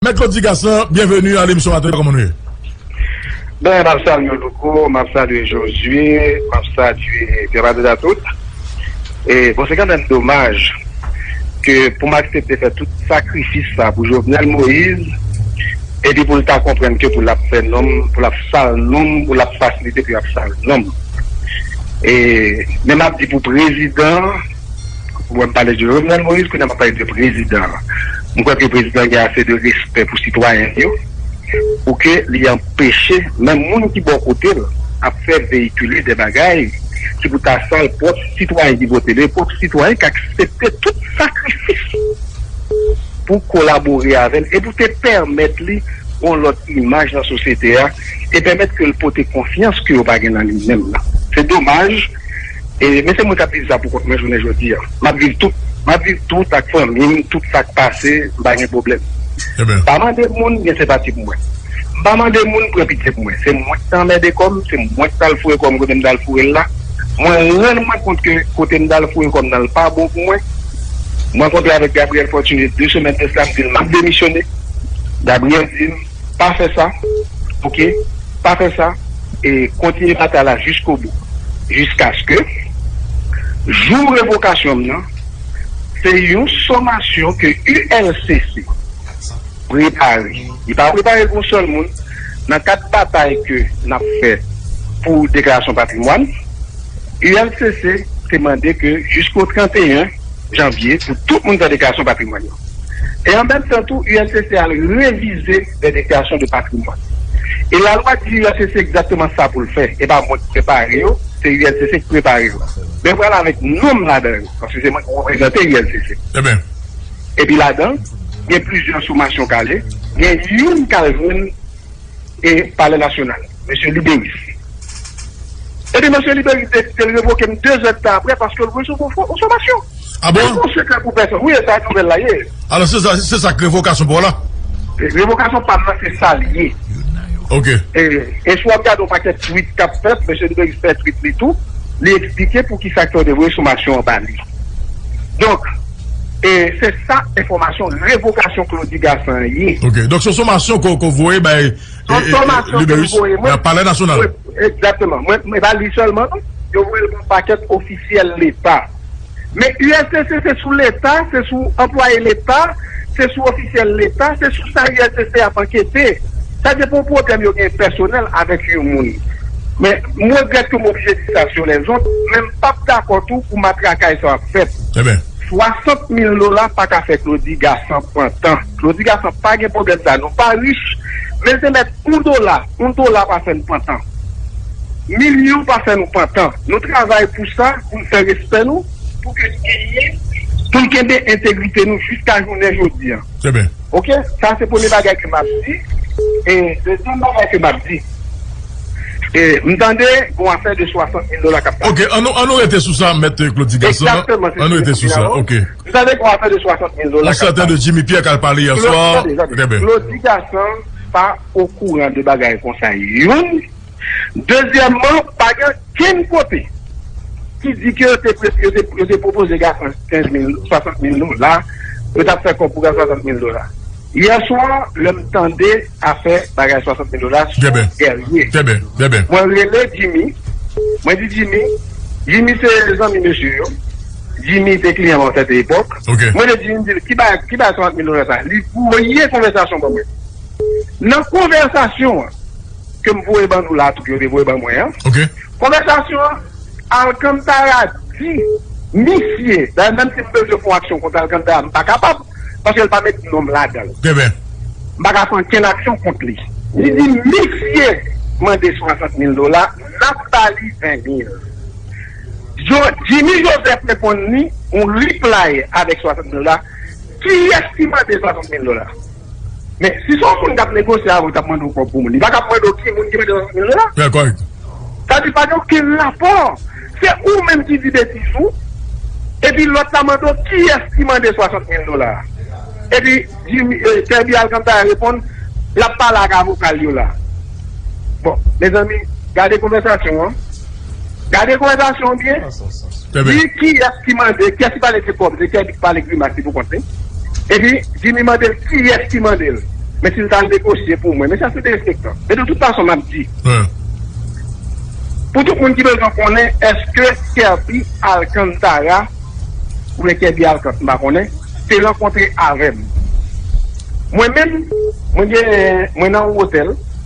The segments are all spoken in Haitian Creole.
Mèt Claude Digaslan, byenveni a lemisyon maten an, kòman nou ye? Ben, m ap salye w Louko, m ap salye Jozye, m ap salye Pè Patrick a tout. E, bon se kanmenm domaj ke pou m aksepte fè tout sakrifis sa pou Jovenel Moise, epi pou l ta konprann ke pou l ap fè non m, pou l ap sal non m, pou l ap fasilite pou y ap sal non m. E, men m ap di pou prezidan. Ou wè m pale de Jovenel Moïse, kounye a m ap pale de prezidan an. M kwè ke prezidan an gen ase de respè pou sitwayen l yo, pou ke li anpeche menm moun ki bò kote l ap fè veyikile de bagay ki pou ta sal pwòp sitwayen ki vote l yo, pwòp sitwayen k aksepte tout sakrifis pou kolabore avè l e pou te pèmèt li yon lòt imaj nan sosyete a e pèmèt ke l pote konfyans ke yo pa gen nan li menm nan. Se domaj. men se mwen kap viv sa pou kont mwen jounen jodi an map viv tout map viv tout ak fanmim tout sak pase mpa gen pwoblèm mpa mande moun gen senpati pou mwen mpa mande moun pran pitye pou mwen se mwen ki ta anmède kòm se mwen ki tal foure kòm kote mtal fourel la mwen rann mwen kont ke kote mtal foure kòm nan pa bon pou mwen mwen kontre avèk Gabriel Fortuné 2 semèn de sa mdil map demisyone Gabriel dim Pa fè sa ok pa fè sa e kontinye batay la jiskobou jiskaske jou revokasyon m nan se yon somasyon ke ULCC prepare li pa prepare l pou yon sèl moun nan kad batay ke n ap fè pou deklarasyon patrimwàn ULCC te mande ke jisko 31 janvye pou tout moun fè deklarasyon patrimwàn yo. E an menm tan tou ULCC al revize lè deklarasyon de patrimwàn. E lalwa di ULCC egzakteman sa pou l fè. E pa mwen k prepare yo, se ULCC k prepare yo. Men pral avèk non m ladan yo, paske se mwen k reprezante ULCC. Epi ladan, gen plizyè somasyon k ale, gen youn k al jwenn. e Palè Nasyonal, Mesye Libéris. Epi Mesye Libéris deside l revoke m de zè dtan aprè paske l resevwa fo enfomasyon. A bon? Se pa yon sekrè pou pèsonn. Wi, e sa nouvèl la ye. Alò se sa, se sa k revokasyon pa w la? Revokasyon pa m nan se sa l ye. Ok. E si w ap gade yon pakèt twit k ap fèt, Mesye Libéris fè twit li tou, li eksplike poukisa k fè yo te voye somasyon an ba li. Donk. E se sa enfòmasyon revokasyon Claudy Gassant an ye. Ok. Donk se yon somasyon ke w voye bay Libérus nan Palè Nasyonal. Egzakteman. Mwen e pa li sèlman non. Yo voye l ba yon pakèt ofisyèl Leta. Men USCC se sou Leta, se sou anplwaye Leta, se sou ofisyèl Leta, se sou sa USCC ap ankete. Sa se pou pwoblèm yo gen pèsonèl avèk yon moun. Men m regrèt ke m oblije di sa sou lèzot, men m p ap dakò tou pou matrakay sa yo ap fèt. Enben. 60 mil dola pa ka fè Claudy Gassant pran tan. Claudy Gassant pa gen pwoblèm sa. Nou pa rich, men se mèt yon dola, yon dola pa fè nou pran tan. Milyon pa fè nou pran tan. Nou travay pou sa, pou n fè respè nou, pou ke n genyen, pou n kenbe entegrite nou jiska jounen jodi a. Trè byen. Ok, sa se premye bagay ke map di, e dezyèm bagay ke map di, e m tande gon afè de 60 mil dola kap pale. Ok, an nou rete sou sa mèt Claude Ti Gason. Ekzakteman, se sa ki la vo. M tande gon afè de 60 mil dola kap pale. On sèten de Jimmy Pierre kal pale yè swa. Tande, tande, Claude Ti Gason pa okouran de bagay konsa youn. Dezyèmman, pa gen okenn kote ki di ke yo te pwopoze Gassant 15 mil, 60 mil dola, yo t ap fè kòb pou Gassant 60 mil dola. Yè swa, lè m tande afè bagay 60 mil dola sou Guerrier, mwen rele Jimmy, mwen di Jimmy, Jimmy se zanmi mesye yo, Jimmy te kliyan Walter T. Epòk, mwen rele Jimmy m di l, ki bagay 60 mil dola sa? Li voye konvèsasyon ban mwen. Nan konvèsasyon an. ke m voye ban nou la tou ke yo te voye ban mwen an. Konvèsasyon an, Alcantara di misye, dayè menm si m bezwen fè yon aksyon kont Alcantara m pa kapab paske l pa met non m ladan l. M pa ka fè ankenn aksyon kont li. Li di misye mande 60 mil dola, n ap ba li 20 mil. Jimmy Joseph reponn li yon reply avèk 60 mil dola. Kiyès ki mande 60 mil dola? Men, si se yon moun k ap negosye avè w, li t ap mande w kòb pou moun, li pa t ap mande w ki moun ki mete 30 mil dola. Trè kòrèk. Sa di pa gen okenn rapò. Se ou menm ki di betiz ou, epi lòt la mande w kiyès ki mande 60 mil dola a. Epi Jimmy, Kerby Alcantara reponn, l ap pale ak avoka l yo la. Bon, mezanmi, gade konvèsasyon an. Gade konvèzasyon an byen. Di kiyès ki mande, kiyès ki pale de kòb, se Kèbi ki pale grimas li pou kont li. Epi Jimmy mande l kiyès ki mande l men si l ta negosye pou mwen. Men sa se derespektan. Men de tout fason m ap di pou tout moun ki bezwen konnen èske Kèbi Alcantara oubyen Kèbi Alcant m pa konnen te rankontre avè m. Mwen menm mwen gen mwen nan yon otèl.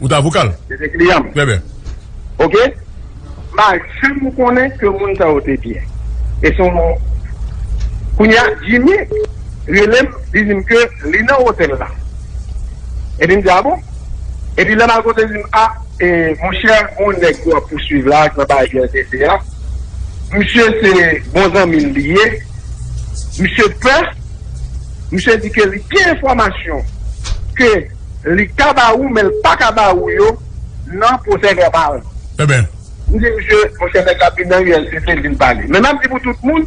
Ou ta vokal? Se te kliyan m. Trè byen. Ok. M pa janm konnen ke moun sa yo te byen. E son Kounye a, Jimmy rele m, li di m ke li nan otèl la. Epi m di, a bon? Epi lè m al kote l, li di m, a, e, monchè, gon nèg ke w ap pousuiv la, nan bay UNTC a, misye se bon zanmi l li ye, misye pè, misye di ke li gen enfòmasyon ke. Li ka ba ou men li paka ba ou yo nan pwosè vèbal. Enben. M di misye, monchè nèg la vin nan ULCC li vin pale. Men map di pou tout moun,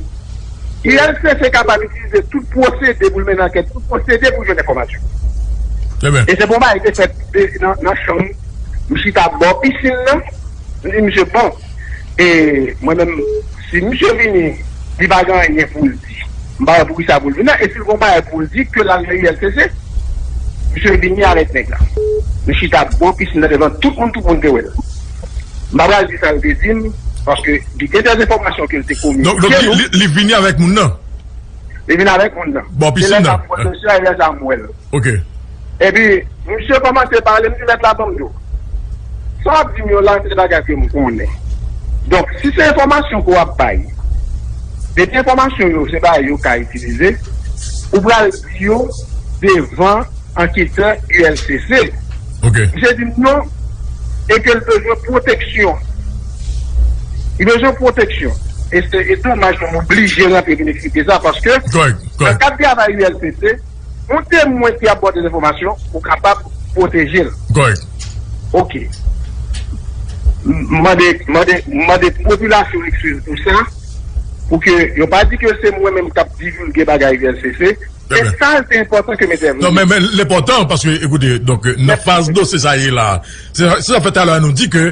ULCC kapab itilize tout pwosede pou l mennen ankèt, tout pwosede pou l jwenn enfòmasyon. Enben. E se bon bagay te fèt nan chanm m chita bò pisin nan, m di misye bon, e mwen menm si misye vini li pa gen anyen pou l di. M pa wè pou kisa pou l vin la e si l gon bagay pou l di ke l al nan ULCC. Misye vini avèk nèg la. Li chita bò pisinn nan devan tout moun tout moun te wè l. M pa pral di sa l te di m paske li gen dè enfòmasyon ke l te kominike nou. Donk li vini avèk moun nan? Li vini avèk moun nan. Bò pisinn nan? Se lè sa m wè l. Ok. Epi misye kòmanse pale, m di mèt la banm dlo. Sa w ap di m yo la se bagay ke m konnen. Donk si se enfòmasyon ke w ap bay, epi enfòmasyon yo se bagay yo ka itilize, ou pral di yo devan anketè ULCC. Ok. Misye di m non e ke l bezwen pwoteksyon. Li bezwen pwoteksyon. E se domaj ke m oblije rantre vin eksplike sa paske nan kad travay ULCC. Yon temwen ki ap ba w dezenfòmasyon, ou kapab pwoteje l. Kòrèk. Ok. M mande, m mande, m mande popilasyon an ekskiz pou sa, pou ke yo pa di ke se mwen menm k ap divilge bagay ulcc, men sa l te enpòtan ke m entèvni. Non, men, men, l enpòtan, paske, ekoute, donk, nan faz dosye sa ye la, se sa k fè talè a nou di ke.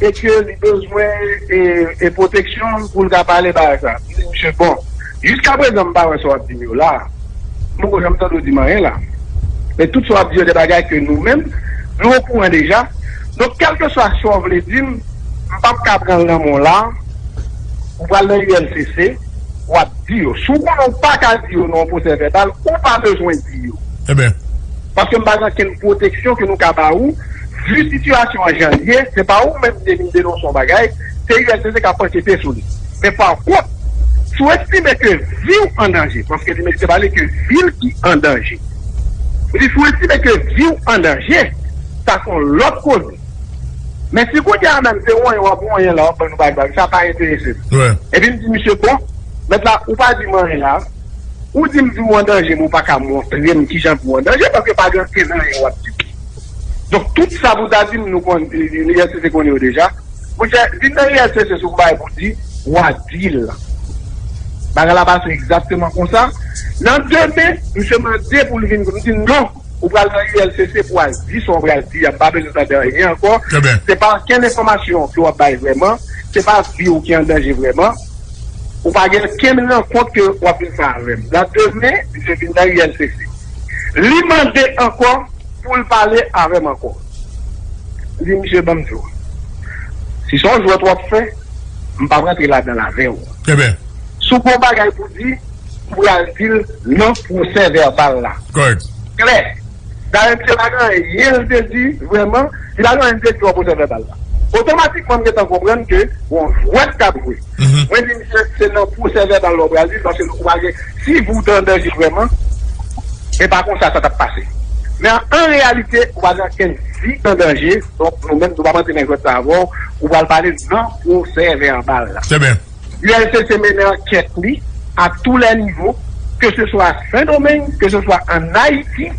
Mesye li bezwen e proteksyon poul ka pale bagay sa. M di misye bon jiska prezan m pa wè sa wap dim yo la. M poko janm tande w dim anyen la. Men tout sa wap di yo de bagay ke nou menm nou okouran deja. Donk kelkeswa sa w vle dim m pap ka pran l nan men w la. Ou pral nan ULCC. wap di yo. Si w konnen w pa ka di yo nan yon pwosè vèbal, ou pa bezwen di yo. Eben. Paske m pa gen okenn pwoteksyon ke nou ka ba ou, vu sitiyasyon an jan l ye, se pa ou menm ki te vin denonse yon bagay, se uscg kap ankete sou li. Men pa kont, si w estime ke vi w an danje, paske li mete pale ke vi l ki an danje. M di si w estime ke vi w an danje, sa se yon lòt koze. Men si kounye a menm se wonyon wap wonyon la wap ban nou bagbag sa pa enteresem. Epi m di misye bon mèt la ou pa di m anyen la ou di m vi w an danje men ou pa ka montre m kijan vi w an danje paske pa gen ankenn anyen wap di m. Donk tout sa pou ta di m nou konn ULCC konnen yo deja. Monchè vin nan ULCC si w gen bagay pou w di wa di l. Bagay la pase egzakteman konsa. Nan demen misye mande pou l vin m di non. Ou pral nan ULCC pou al di sa w pral di a, m pa bezwen tande anyen ankò. Se pa ankenn enfòmasyon ke w ap bay vrèman, se pa vi w ki an danje vrèman. Ou pa gen ankenn rankont ke w ap vin fè avè m. Nan demen, misye vin nan ULCC. Li mande ankò pou l pale avè m ankò. M di misye ban m di w, si se yon jwèt w ap fè, m p ap rantre ladan l avè w. Si w gen yon bagay pou di, Pou y al di l nan pwosè vèbal la. Kòrèk. Klè. Dayè misye pa gen anyen l te di vrèman, li pa gen anyen l te di nan pwosè vèbal la. Otomatikman m gen tan konprann ke gon jwèt k ap jwe. Mwen di misye se nan pwosè vèbal la w pral di l paske ou pa gen, si ou te an danje vrèman, e pa konsa sa t ap pase. Men an reyalite ou pa gen okenn vi an danje, donk nou menm nou p ap antre nan jwèt sa avè w, ou pral pale nan pwosè vèbal la. Trè byen. ULCC mennen ankèt li a tou lè nivo, ke se swa Sen Domeng, ke se swa an Ayiti,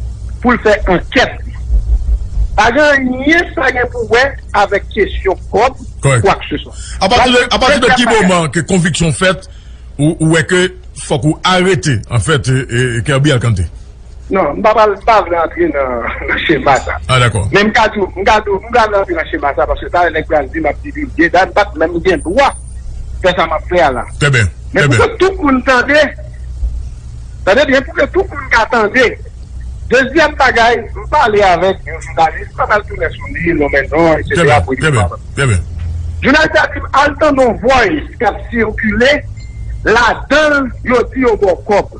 pou l fè ankèt li. Pa gen anyen sa gen pou wè avèk kesyon kòb ou kwakseswa. A pati de ki moman ke konviksyon fèt ou wè ke fòk ou arete, anfèt, Kerby Alcante? Non, m pa pral, m pa vle antre nan chema sa. Ah dakò. Men m ka di w, m ka di w, m pa vle antre nan chema sa paske talè nèg pral di m ap divilge dat, m pa t menm gen dwa fè sa m ap fè a la. Trè byen, trè byen. Men pou ke tout moun tande, tande byen, pou ke tout moun ka tande. Dezyèm bagay, m pale avèk yon jounalis, m pa pral tounen sou li, lonmen non, etsetera, pou li pa. Trè byen, trè byen. Jounalis la di m, al tande yon voice k ap sikile, ladan l yo di yo ba w kòb.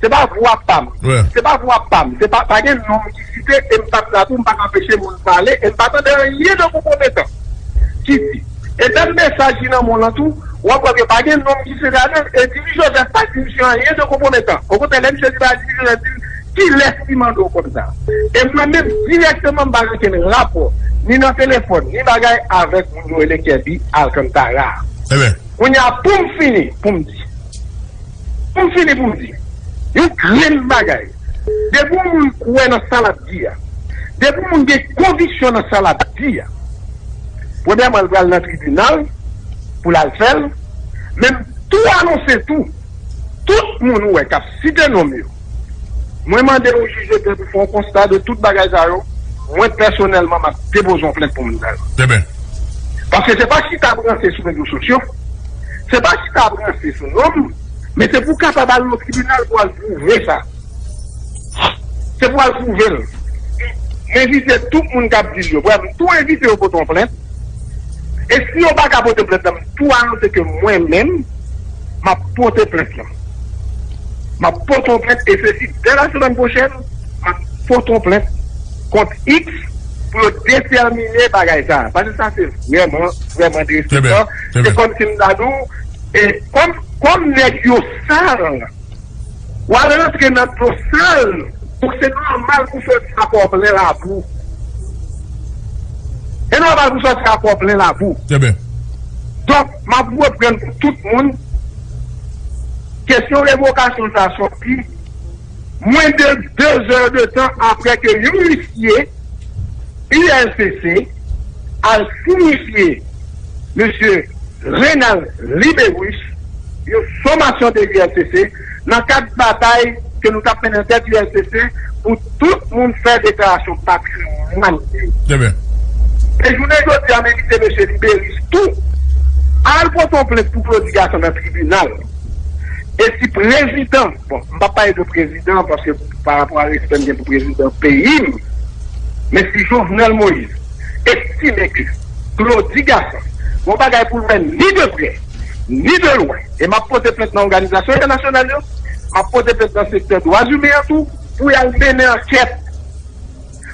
Se pa vwa pam. Se pa vwa pam. Se pa, pa gen non m ki site e m pa t la tou, m pa t anpeche moun pale e m pa tande anyen de konpwometan ki di. E menm mesaj li nan mou lan tou, w ap wè ke pa gen non m ki site ladan l e Diri Jozèf pa di misye anyen de konpwometan. Okontrè, lè misye di bagay, Diri Jozèf di l, Kilès ki mande w kòb sa a? E mwen menm, dirèkteman m pa gen okenn rapò, ni nan telefòn, ni bagay, avèk moun yo rele Kèbi Alkantara a. Kounye a, pou m fini, pou m di. Pou m fini pou m di yon grenn bagay, depi yon moun kwè nan sa l ap di a, depi yon moun gen konviksyon nan sa l ap di a, premyèman l pral nan tribinal pou l al fè l, men m tou anonse tou, tout moun ou wè k ap site non m yo, Mwen mande yon jij lepè pou fè yon konsta de tout bagay sa yo, mwen pèsonèlman m ap depoze yon plent pou moun sa yo. Demen. Paske se pa chita ap ranse sou rezo sosyo, se pa chita ap ranse sou nonm, men se pou w kapab al nan tribinal pou al pwouve sa. Se pou al pwouve l. M envite tout moun k ap di l yo, brèf m tou envite yo pote yon plent, e si yo pa ka pote plent lan m tou anonse ke mwen menm m ap pote plent lan. M ap pote yon plent e se si dè lasemenn pwochèn m ap pote yon plent kont X pou yo detèmine bagay sa a. Pase sa se vrèman, vrèman derespektan. Se kòm si m ta di w e kòm kòm nèg yo sal w al rantre nan dlo sal donk se nòmal pou w soti a kò plen labou. Se nòmal pou w soti a kò plen labou. Donk. Map reprann pou tout moun. Kesyon revokasyon sa soti mwen de 2 zè de tan aprè ke yon isye ULCC al sinifye Mesye Renald Libérus yon somasyon de ULCC. nan kad batay ke nou tap mennen tèt ULCC pou tout moun fè deklarasyon patrimwàn yo. E jounen jodi a m envite mesye liberis tou al pote yon plent pou Claudy Gassant nan tribinal. E si prezidan, bon m pap pale de prezidan paske pa rapò a respè m gen pou prezidan peyi m, men si Jovenel Moïse estime ke Claudy Gassant gen yon bagay pou l fè ni de prè, ni de lwen, e m ap pote plent nan òganizasyon entènasyonal yo, m ap pote plent nan sektè dwazimen an tou, pou y al mennen ankèt,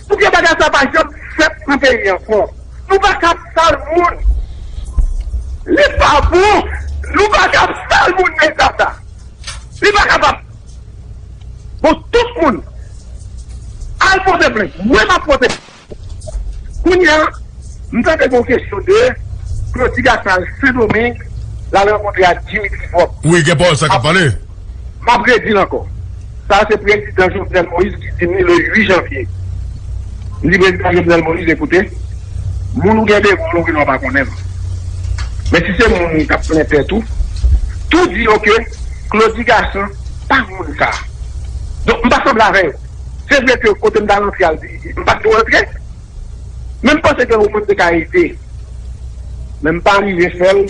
pou ke bagay sa a pa janm fèt nan peyi an ankò. Nou pa ka ap sal moun. Li pa bon. Nou pa ka ap sal moun nan eta sa a. Li pa kapab. Bon, tout moun, al pote plent. Mwen m ap pote. Kounye a, m tande gen yon kesyon de Klodi Gasan al Sendomeng, l al rankontre ak Dimitri Vòb. Wi, gen pawòl sa k ap pale. M ap redi l ankò, sa a se Prezidan Jovenel Moïse ki di m li le 8 janvye. M di Prezidan Jovenel Moïse, Ekoute, moun ou gen devan w la ou gen dwa pa konnen l. Men si se moun k ap plen tèt ou, tou di yo ke Klodi Gasan pa moun sa a. Donk, m pa sanble avè yo. Se vre ke kote m ta rantre a m pa t dwe rantre, men m panse gen yon moun m te ka ede. Men m pa rive fè l,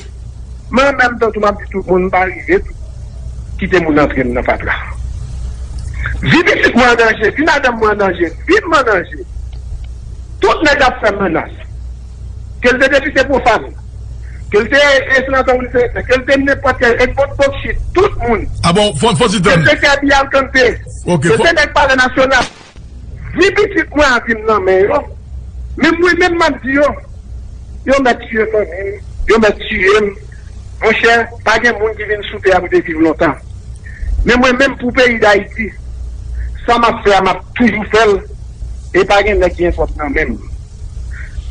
men an menm tan tou m ap di tout moun m pa rive tou kite moun antre m nan fatra. Vi pitit mwen an danje, vi madanm mwen an danje, vi m an danje. Tout nèg ap fè m menas. ke l te depite pwofàn, ke l te senatè ou senatè, ke l te nenpòt ki a, Edmond Bocchit, tout moun, ke l te Kirby Alcante, ke l te nèg palè nasyonal, vi pitit mwen a vin nan men yo, men mwen menm m ap di yo, yo mèt tiye fanmi m, yo mèt tiye m, monchè, pa gen moun ki vin sou tè a pou te viv lontan. Men mwen menm pou peyi Dayiti, sa m ap fè a m ap toujou fè l e pa gen nèg ki gen twòp nan men m.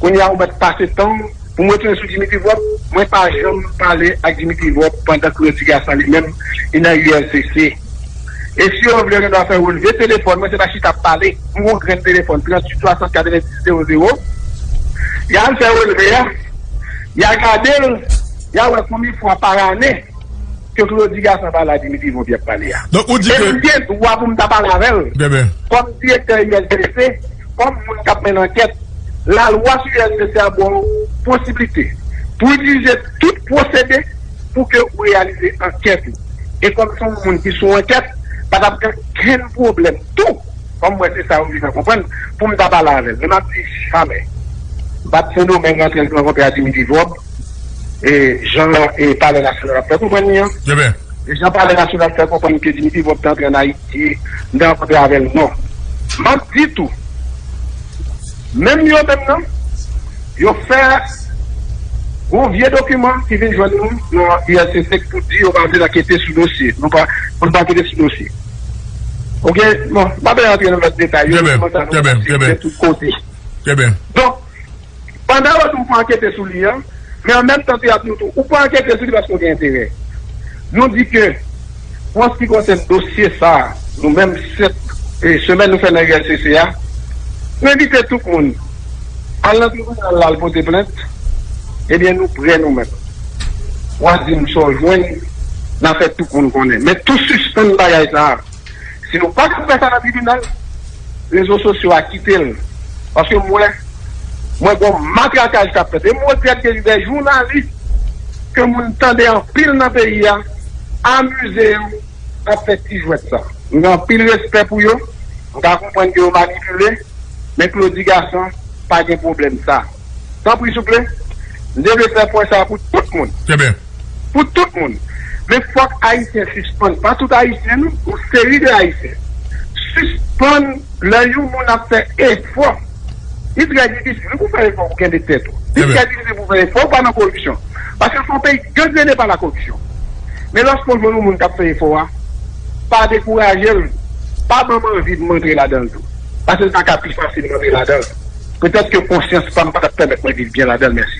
Kounya ou mèt pase tanw pou mwen tounen sou Dimitri Vorb, mwen pa janm pale ak Dimitri Vorb pandan ke Rodrigue Assange li menm li nan ULCC. E si yo vle Renois fè relve telefòn mwen se pa chita ap pale pou yon grenn telefòn 38 60 90 00 ya al fè relve a ya gadel ya wè konbyen fwa par ane ke Rodrigue Assange pale ak Dimitri Vorb yap pale a. E m gen dwa pou m ta pale avèl kòm direktè ULCC. kòm moun k ap mennen ankèt, lalwa sou USPC a ba w posiblite pou itilize tout pwosede pou ke ou reyalize ankèt ou. E kòm se yon moun ki sou ankèt, pa t ap gen okenn pwoblèm tou, kòm m wè se sa yo vin fè konprann, pou m ta pale avè l. Men m ap di jamè. Bat Sendomeng rantre l nan kontre a Dimitri Vob, e jan Palè Nasyonal ap fè konprann li an, jan Palè Nasyonal fè konprann ke Dimitri Vob te antre an Ayiti. di m te rankontre avè l non. M ap di tou, menm yo menm nan, yo fè yon vye dokiman ki vin jwenn nou nan ULCC k pou di yo pa vin ankete sou dosye nou pa pou n pa ankete sou dosye. Ok, bon, m pa bezwen rantre nan lòt detay yo, nou konnen sa nou pase, nou gen tout kote. Donk. Pandan yo di ou pou ankete sou li an, men an menm tan tou y ap di ou tou ou pa ankete sou li paske ou gen enterè. Nou di ke pou an se ki konsèn dosye sa a, nou menm 7 semèn nou fè nan ULCC a, nou envite tout moun al nan tribinal la al pote plent, ebyen nou prè nou menm. Wa di m sa w jwenn, na fè tout moun konnen. Men tou sispann bagay sa a. Si nou pa ka fè sa nan tribinal, rezo sosyo a kite l. Paske m wè, mwen gen yon matrakaj k ap fèt. E m regrèt gen de jounalis ke moun tande anpil nan peyi a, amize yo ap fè ti jwèt sa. M gen anpil respè pou yo, m ka konprann ke yo manipile, men Claudy Gason pa gen pwoblèm sa. Tanpri souple, m te vle fè pwen sa pou tout moun. Trè byen. Pou tout moun. Men fòk Ayisyen sispann, pa tout Ayisyen non, yon seri de Ayisyen, sispann lè yon moun ap fè efò. Li trè difisil wi pou w fè efò pou w kenbe tèt ou. Li trè difisil pou w fè efò pou w pa nan koripsyon. Paske fon peyi gangrene pa lakoripsyon. Men lòske w jwenn yon moun k ap fè efò a, pa dekouraje l, pa ban m anvi pou m antre ladan l tou. Paske l ta ka pi fasilman viv ladan l. Petèt ke konsyans pa m pa t ap pèmèt mwen viv byen ladan l. Mèsi.